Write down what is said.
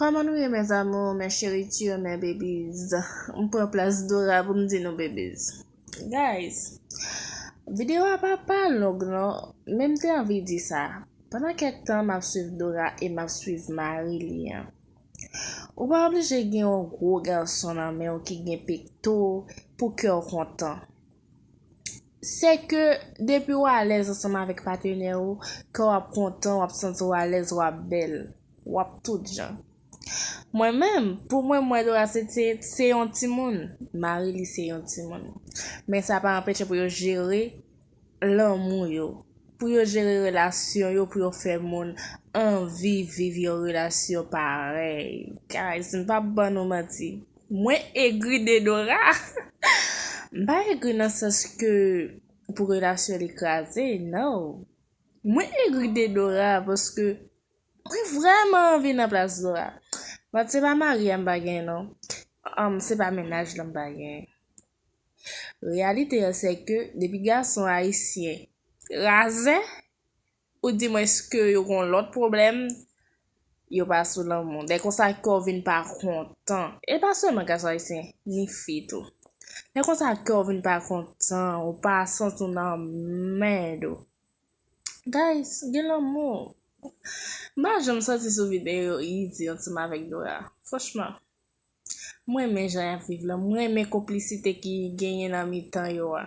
Kòman nou ye mes amours mes cheritures mes babies m pran plas Dora pou m di nou babies guys video a pa pa long non men m te anvi di sa pandan kèk tan m ap swiv Dora e m ap swiv mari li an ou pa oblije gen yon gwo gason nan men w ki gen pekto pou kè w kontan. se ke depi ou alèz ansanm avèk patenè ou, kè w ap kontan, w ap santi w alèz, w ap bèl, w ap tout jan. Mwen menm, pou mwen, m wè Dorase se yon timoun, mari li se yon timoun. Men sa pa anpeche pou yo jere lanmou yo, pou yo jere relasyon yo, pou yo fè moun anvi viv yon relasyon parèy. Guys, m p ap ban nou manti. Mwen egri de Dora. M pa egri nan sans ke pou relasyon li kraze nan. Mwen egri de Dora paske mwen vreman anvi nan plas Dora. But se pa mari a m pa gen non. Humm se pa mennaj lan m pa gen. Reyalite an se ke depi gason ayisyen razè Ou di mwen eske yo gon lòt pwoblèm? Yo pa sou lanmou. Lè konsa kè w vin pa kontan. E pa sèlman gason ayisyen, ni fi tou. Lè konsa kè w vin pa kontan, ou pa santi w nan mèd ou. Guys, gen lanmou. M pa janm santi sou videyo yo izi ansanm avèk Dora. Franchman. M renmen jan y ap viv lan. M renmen konplisite ki genyen nan mitan yo a.